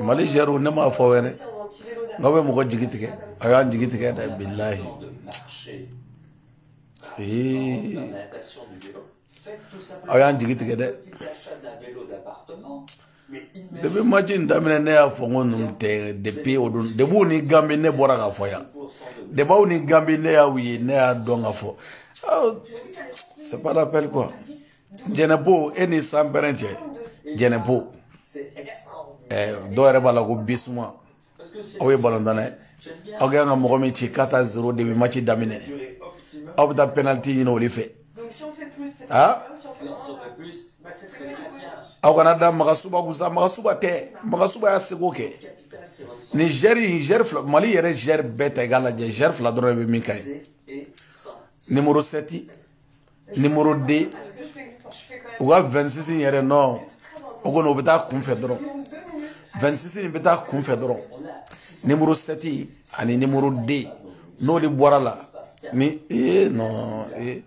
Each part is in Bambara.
mali jɛro ne m'a fɔ wɛrɛ n'aw bɛ mɔgɔ jigi tigɛ a y'an jigi tigɛ dɛ bilahi aw y'an jigi tigɛ dɛ depi maci in daminɛ ne y'a fɔ n ko ninnu tɛ depi o don depi aw ni gambi ne bɔra k'a fɔ yan depi aw ni gambi ne y'aw ye ne y'a dɔn ka fɔ c'est pas la peine quoi jɛnɛpo e ni san pɛrɛn cɛ jɛnɛpo dɔw yɛrɛ b'a la ko bisuma aw ye balontan dɛ aw ka kan ka mɔgɔ min ci quatre à zéro depi maci daminɛ aw bɛ taa pɛnaliti ɲini olu fɛ aa aw kana da magasuba kun sa magasuba tɛ magasuba y'a seko kɛ ni zuwɛri zuwɛri fila mali yɛrɛ zuwɛri bɛɛ ta i k'a lajɛ zuwɛri fila dɔrɔn de bɛ min ka ye nimoro sɛti nimoro de u ka vɛnsisi yɛrɛ nɔ o kɔni o bɛ taa kunfɛ dɔrɔn vɛnsisi in bɛ taa kunfɛ dɔrɔn nimoro sɛti ani nimoro de n'olu bɔr'a la ni ee nɔ ee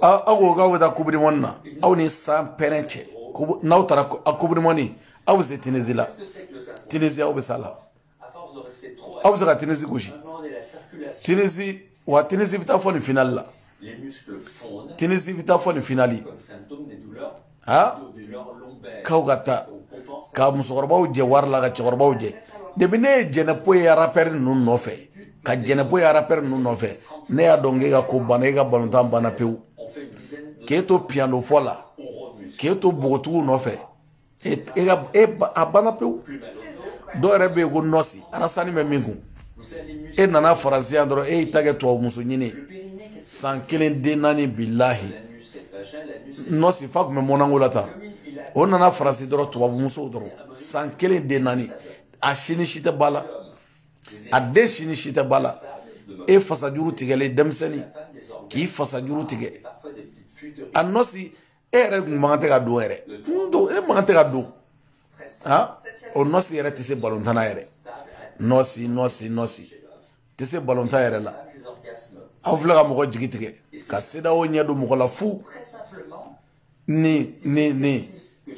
aw ko k'aw bɛ taa coupe du monde na aw ni san pɛrɛn cɛ n'aw taara coupe du monde aw bɛ se tinezi la tinezi aw bɛ s'a la. aw bɛ se ka tinisi gosi tinisi wa tinisi bɛ taa fo nin finali la tinisi bɛ taa fo nin finali ha k'aw ka taa ka musokɔrɔbaw jɛ wari la ka cɛkɔrɔbaw jɛ depi ne ye jɛnɛpo ye arapɛri ninnu nɔfɛ ka jɛnɛpo ye arapɛri ninnu nɔfɛ ne y'a dɔn k'e ka ko banna e ka balontan banna pewu k'e to piyano fɔ la k'e to npogotigiw nɔfɛ e e ka e a banna pewu dɔw yɛrɛ bɛ yen ko nɔsi arasani bɛ min kun e nana faransi yan dɔrɔn e y'i ta kɛ tubabu muso ɲini san kelen den naani bilahi nɔsi fa tun bɛ monako la tan o nana faransi dɔrɔn tubabu musow dɔrɔn san kelen den naani a si ni si tɛ ba la a den si ni si tɛ ba la e fasajuru tigɛlen denmisɛnnin k'i fasajuru tigɛ a nɔsi e yɛrɛ kun man kan ka don yɛrɛ n don e man kan ka don ha o nɔsi yɛrɛ tɛ se balontan na yɛrɛ nɔsi nɔsi nɔsi tɛ se balontan yɛrɛ la aw filɛ ka mɔgɔ jigi tigɛ ka sedawo ɲɛ don mɔgɔ la fu ni ni ni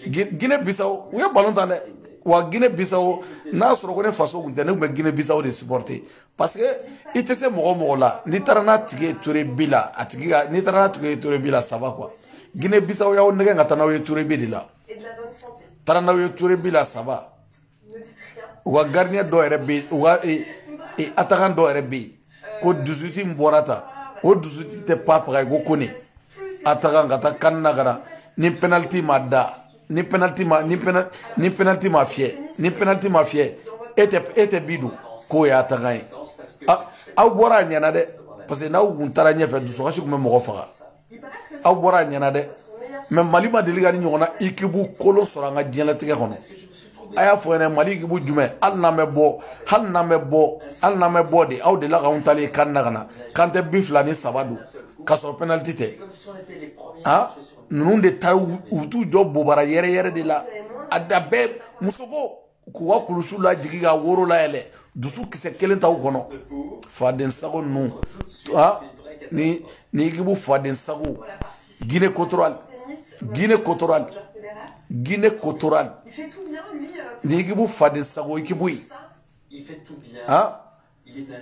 gine bisawo u ye balontan dɛ wa gine bisawo n'a sɔrɔ ko ne faso kun tɛ ne kun bɛ gine bisawo de supporter parce que i tɛ se mɔgɔ mɔgɔ la n'i taara n'a tigi ye tir au but la a tigi ka n'i taara n'a tigi ye tir au but la ça va quoi guinée bissau y'aw nɛgɛ ka taa n'aw ye tir au but de la taara n'aw ye tir au but la ça va u ka gardien dɔ yɛrɛ bɛ u ka atakan dɔ yɛrɛ bɛ yen ko disuwiti min bɔra ta o disuwiti tɛ pa faga ko kone atakan ka taa kan na kara ni penaliti ma da ni penalty ma ni penalty ni penalty ma fiyɛ ni penalty ma fiyɛ e tɛ e tɛ bi don k'o ye atakan ye aw bɔra a ɲɛna dɛ parce que n'aw kun taara ɲɛfɛ dusukasi tun bɛ mɔgɔ faga aw bɔra a ɲɛna dɛ mɛ mali ma deli ka nin ɲɔgɔnna ikibu kolon sɔrɔ an ka diɲɛlatigɛ kɔnɔ a y'a fɔ yɛrɛ mali ikibu jumɛn hali n'an bɛ bɔ hali n'an bɛ bɔ hali n'an bɛ bɔ de aw delila k'anw taalen kan na ka na k'an tɛ bi fila ni saba don k'a sɔrɔ penaliti tɛ han ninnu de taa u t'u jɔ bobara yɛrɛyɛrɛ de la a da bɛɛ muso ko k'u ka kulusiw lajigi ka woro layɛlɛ dusu kisɛ kelen t'aw kɔnɔ faden sago ninnu ni ni ikibu faden sago guinée équatoriale guinée équatoriale guinée équatoriale nin ikibu faden sago ikibu ye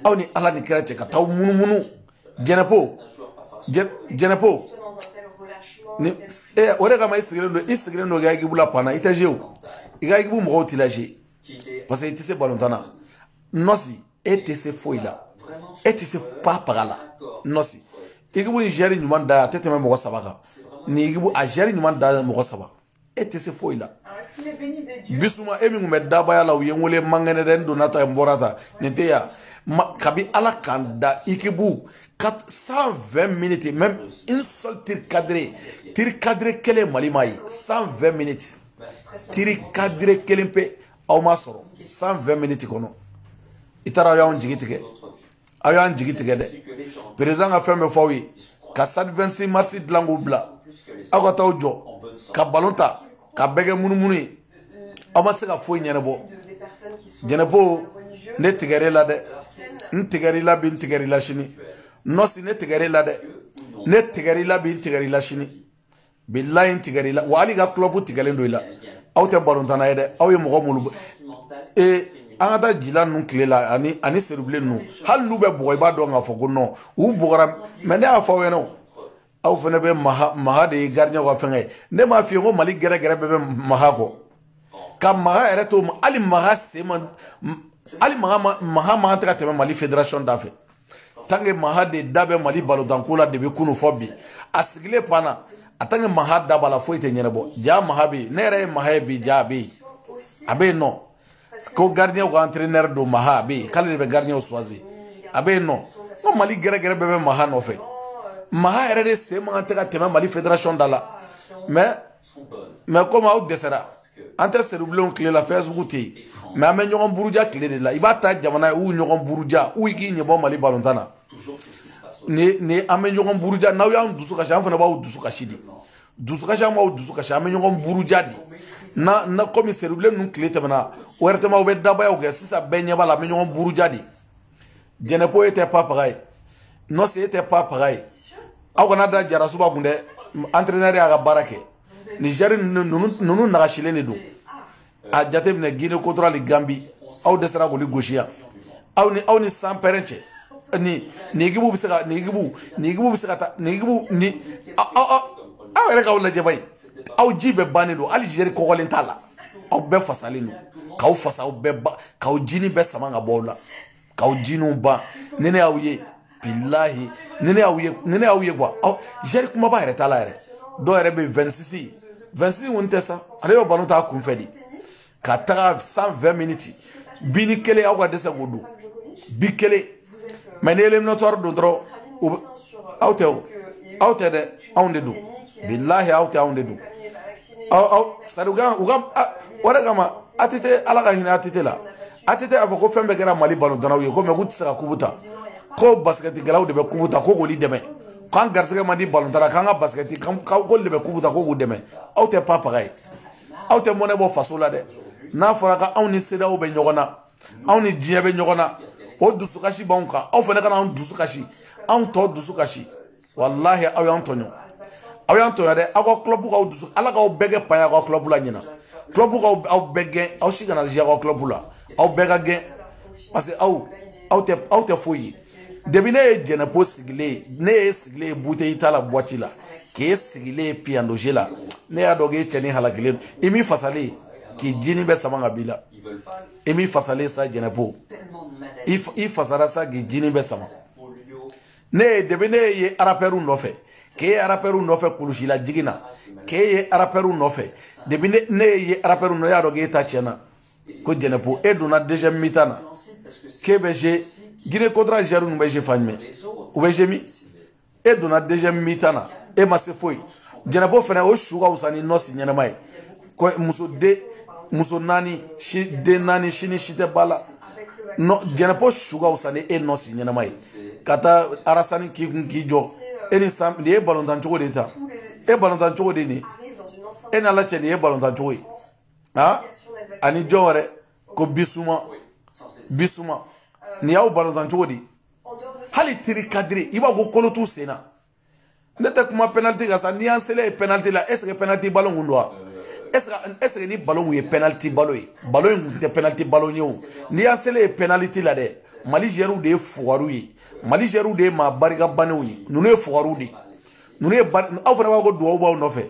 aw ni ala ni kira cɛ ka taa munumunu jɛnɛpo jɛnɛpo ni e o de kama i sigilen don i sigilen don i ka ekibu la banc na i tɛ zuwe i ka ekibu mɔgɔw t'i lazuwe parce que i tɛ se balontan na nɔsi e tɛ se foyi la e tɛ se pa paga la nɔsi ekibu nin zuwɛri ɲuman da a tɛ tɛmɛ mɔgɔ saba kan nin ekibu a zuwɛri ɲuman da mɔgɔ saba e tɛ se foyi la bisuma e min tun bɛ dabaya la u ye n wele mankɛnɛ dɛ n donna tan n bɔra tan nin tɛ yan kabi ala k'an da ikibu ka cent vingt minutes même un seul tir cadré tir cadré kelen mali ma ye cent vingt minutes tir cadré kelen pe aw ma sɔrɔ cent vingt minutes kɔnɔ i taara y'anw jigi tigɛ aw y'an jigi tigɛ dɛ perezidan ka fɛn bɛɛ fɔ aw ye ka stade 26 mars dilan k'o bila aw ka t'aw jɔ ka balon tan k'a bɛɛ kɛ munumunu ye aw ma se ka foyi ɲɛnabɔ jɛnɛpo ne tigɛr'e la dɛ n tigɛr'i la bi n tigɛr'i la sini nɔsi ne tigɛr'e la dɛ ne tigɛr'i la bi n tigɛr'i la sini bilayi n tigɛra i la wa hali i ka club tigɛlen don i la aw tɛ balontanna ye dɛ aw ye mɔgɔ minnu ee an ka ta jila ninnu tile la ani ani seyidubilen ninnu hali n'u bɛ bugɔ i b'a dɔn k'a fɔ ko nɔn u bugɔra mɛ ne y'a fɔ aw ɲɛna o aw fana bɛ maha maha de ye garidiɲɛw ka fɛnkɛ ye ne m'a f'i ye ko mali gɛrɛgɛrɛ bɛɛ bɛ maha kɔ ka maha yɛrɛ to hali maha sen ma hali maha maha man tɛ ka tɛmɛ mali federation da fɛ tant que maha de da bɛ mali balontanko la depuis kunun fɔ bi a sigilen banc na a tant que maha da b'a la foyi tɛ ɲɛnabɔ ja maha bɛ yen ne yɛrɛ ye maha ye bi ja a bɛ yen a bɛ yen nɔ ko gardien ko entraîneur don maha a bɛ yen k'ale de bɛ gardien choisir a bɛ yen nɔ ko mali gɛrɛgɛrɛ bɛɛ bɛ maha nɔfɛ maha yɛrɛ de sen man kan tɛ ka tɛmɛ mali federation da la mais mɛ komi aw dɛsɛra an tɛ seribilenw tile la fɛn sugu tɛ yen mɛ an bɛ ɲɔgɔn buruja tile de la i b'a ta jamana ye u ɲɔgɔn buruja u k'i ɲɛbɔ mali balontan na ni ni an bɛ ɲɔgɔn buruja n'aw y'an dusu kasi an fana b'aw dusu kasi de dusukasi an b'aw dusu kasi an bɛ ɲɔgɔn buruja de na na komi seribilen ninnu tile tɛmɛna wɛrɛtɛmaw bɛ dabayaw kɛ sisan bɛɛ ɲɛ b'a la an bɛ ɲɔgɔn buruja de jɛnɛpo e tɛ pa paga ye nɔsi e tɛ pa paga ye aw kana da jarasuba kun dɛ entraîneur y'a ka baara kɛ nigɛri ninnu nagasilen de don a jateminɛ guinée équatoriale gambi aw dɛsɛra k'olu gosi yan aw ni aw ni sanpɛrɛn cɛ ni ni ekibu bɛ se ka ni ekibu ni ekibu bɛ se ka taa ni ekibu ni aw yɛrɛ k'aw lajɛ bayi aw ji bɛɛ bannen don hali joueur kɔgɔlen t'a la aw bɛɛ fasalen don k'aw fasa aw bɛɛ ba k'aw jinin bɛɛ sama ka bɔ aw la k'aw jininw ban ni ne y'aw ye bilahi ni ne y'aw ye ni ne y'aw ye kuwa aw joueur kunbaba yɛrɛ t'a la yɛrɛ dɔw yɛrɛ bɛ vɛnsisi vɛnsisi kɔni tɛ sa ale bɛ balon t'a kunfɛ de ka taga cent vingt miniti binin kelen aw ka dɛsɛ k'o don bi kelen mɛ ni eliminatɔri don dɔrɔn o bɛ aw tɛ o aw tɛ dɛ anw de don bilahi aw tɛ anw de don aw aw sari u ka u ka o de kama ATT ala ka hinɛ ATT la ATT y'a fɔ ko fɛn bɛɛ kɛra Mali balontannaw ye ko mɛ k'u tɛ se ka kubu ta ko basikɛtikɛlaw de bɛ kubu ta ko k'olu dɛmɛ k'an garisɛgɛ man di balontan na k'an ka basikɛti k'olu de bɛ kubu ta ko k'u dɛmɛ aw tɛ pa paga ye aw tɛ mɔnɛ bɔ faso la dɛ n'a fɔra k'anw ni CEDEAO bɛ ɲɔgɔn na anw ni diɲɛ bɛ ɲɔgɔn na o dusukasi b'anw kan aw fana kana anw dusu kasi anw tɔ dusu kasi walahi aw y'an tɔɲɔ aw y'an tɔɲɔ dɛ aw ka kulɔbu k'aw dusu ala k'aw bɛɛ kɛ paya k'aw kulɔbu la ɲinan kulɔbu k'aw aw bɛɛ gɛn aw si kana jouer aw ka kulɔbu la aw bɛɛ ka gɛn parce que aw aw tɛ aw tɛ foyi ye depi ne ye jɛnɛpo sigilen ye ne y'e sigilen ye buteyi ta la buwati la k'e sigilen ye piyandoze la ne y'a dɔn k'e cɛnin halakilen don i m'i fasalen k'i jinin bɛɛ sama ka b'i la i m'i fasalen sa jɛnɛpo i fasara sa k'i jinin bɛɛ sama ne ye depi ne y'e ye arapɛriw nɔfɛ k'e ye arapɛriw nɔfɛ kulusi lajigin na k'e ye arapɛriw nɔfɛ depi ne y'e ye arapɛriw nɔ ne y'a dɔn k'e ta tiɲɛna ko jɛnɛpo e donna deuxième mi-temps na k'e bɛ jouer guinée équatoriale joueur ninnu bɛ jouer fan jumɛn u bɛ jouer min e donna deuxième mi-temps na e ma se foyi jɛnɛpo fana o su ka fisa ni nɔsi ɲɛnama ye kɔ muso den muso naani si den naani si ni si tɛ ba la jɛnɛpo su ka fisa ni e nɔsi ɲɛnama ye ka taa arasani k'i kun k'i jɔ e ni san nin ye balontan cogo de ta e balontan cogo de nin e n'ala cɛ nin ye balontan cogo ye han ani jɔn wɛrɛ ko bisuma bisuma nin y'aw balontan cogo di hali tir cadré i b'a ko kolo t'u sen na ne tɛ kuma penalty kan sa n'i y'an selen ye penalty la est ce que penalty ballon kun don wa est ce que est ce que ni ballon kun ye penalty ballon ye ballon in kun tɛ penalty ballon ye o n'i y'an selen ye penalty la dɛ mali zuyɛriw de ye fugariw ye mali zuyɛriw de ye maa barika bannenw ye ninnu ye fugariw de ye ninnu ye ba aw fana b'a ko duwawu b'aw nɔfɛ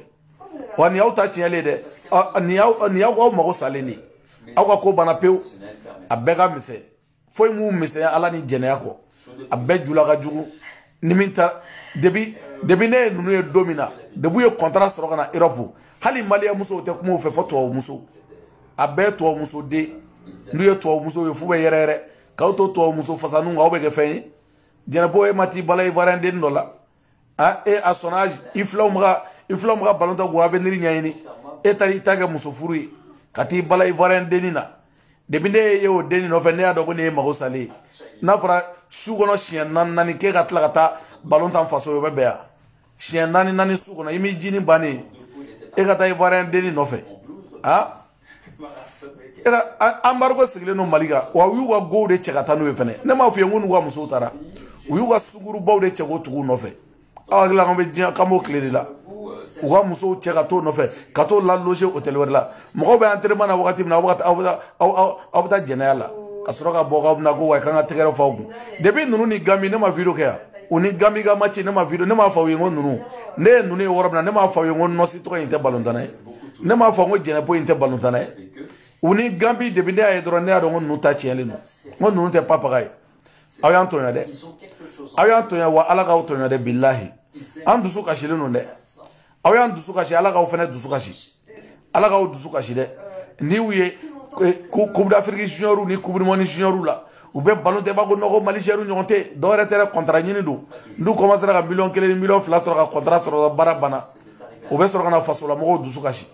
wa nin y'aw ta tiɲɛlen dɛ nin y'aw nin y'aw aw mago salen de ye aw ka ko banna pewu a bɛɛ ka misɛn foyi m'u misɛnya ala ni jɛnɛya kɔ a bɛɛ jula ka jugu ni min ta depi depi ne ye ninnu ye don min na dep'u ye kɔntara sɔrɔ ka na erɔpu hali maliyɛn musow tɛ kuma u fɛ fo tubabu muso a bɛɛ tubabu muso de n'u ye tubabu muso ye f'u bɛ yɛrɛ yɛrɛ k'aw to tubabu muso fasaninw kan aw bɛ kɛ fɛn ye jɛnɛpo e ma t'i bala ivoirien den dɔ la a e a sɔnna i filanw ma ka i filanw ma ka balon tan k'u avenir ɲɛɲini e taara i ta kɛ muso furu ye ka t'i bala ivoirien denni na depi ne y'e ye o denni nɔfɛ ne y'a dɔn ko nin ye mago salen ye n'a fɔra su kɔnɔ siɲɛ naani naani k'e ka tila ka taa balon tan faso y'o bɛ bɛn wa siɲɛ naani naani su kɔnɔ i m'i ji ni bannen e ka taa ivoirien denni nɔfɛ a anbarigo sigilen don mali kan wa u y'u ka gow de cɛ ka taa n'u ye fɛnɛ ne m'a f'i ye n ko n'u ka musow taara u y'u ka sungurunbaw de cɛ k'o tug'u nɔfɛ aw hakili la k'an bɛ diɲɛ k'an b'o tile de la u ka musow cɛ ka t'o nɔfɛ ka t'o laloge hôtel wɛrɛ la mɔgɔw bɛ entraînement na wagati min na aw bɛ aw bɛ aw bɛ taa jɛnɛya la ka sɔrɔ ka bɔ k'aw bɛna ko wa k'an ka tɛgɛrɛ f'aw kun depuis ninnu ni ganbi ne ma video kɛ yan u ni ganbi ka match ne ma video ne m'a fɔ aw ye n ko ninnu ne ye ninnu ye yɔrɔ min na ne m'a fɔ aw ye n ko nɔsi tɔgɔ in tɛ balontanna ye ne m'a fɔ n ko jɛnɛpo in tɛ balon tan dɛ u ni ganbi depi ne y'a ye dɔrɔn ne y'a dɔn ko ninnu ta tiɲɛlen don n ko ninnu tɛ papaga ye aw y'an tɔɲɔ dɛ aw y'an tɔɲɔ wa ala k'aw tɔɲɔ dɛ bilahi an dusu kasilen don dɛ aw y'an dusu kasi ala k'aw fana dusu kasi ala k'aw dusu kasi dɛ n'i y'u ye eh, kupudafiriki juniɔriw ni kupudimɔni juniɔriw la u bɛ balon tan b'a kɔnɔ ko mali zuyɛriw ɲɔgɔn tɛ dɔwɛrɛ tɛ kɔntara ɲini don n'u kɔmansera ka miliyɔn kelen ni miliyɔn fila sɔrɔ ka kɔntara sɔrɔ baara banna o bɛ sɔrɔ ka na fasolamɔgɔw dusu kasi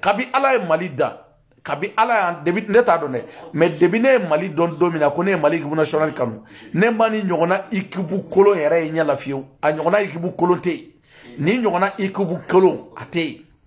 kabi ala ye mali da kabi ala y'an depi ne t'a dɔn dɛ mɛ depi ne ye mali dɔn don min na ko ne ye mali ekipu nasiyɔnali kanu ne ma nin ɲɔgɔnna ekipu kolon yɛrɛ ye ɲɛ la fiyewu a ɲɔgɔnna ekipu kolon tɛ yen nin ɲɔgɔnna ekipu kolon a tɛ yen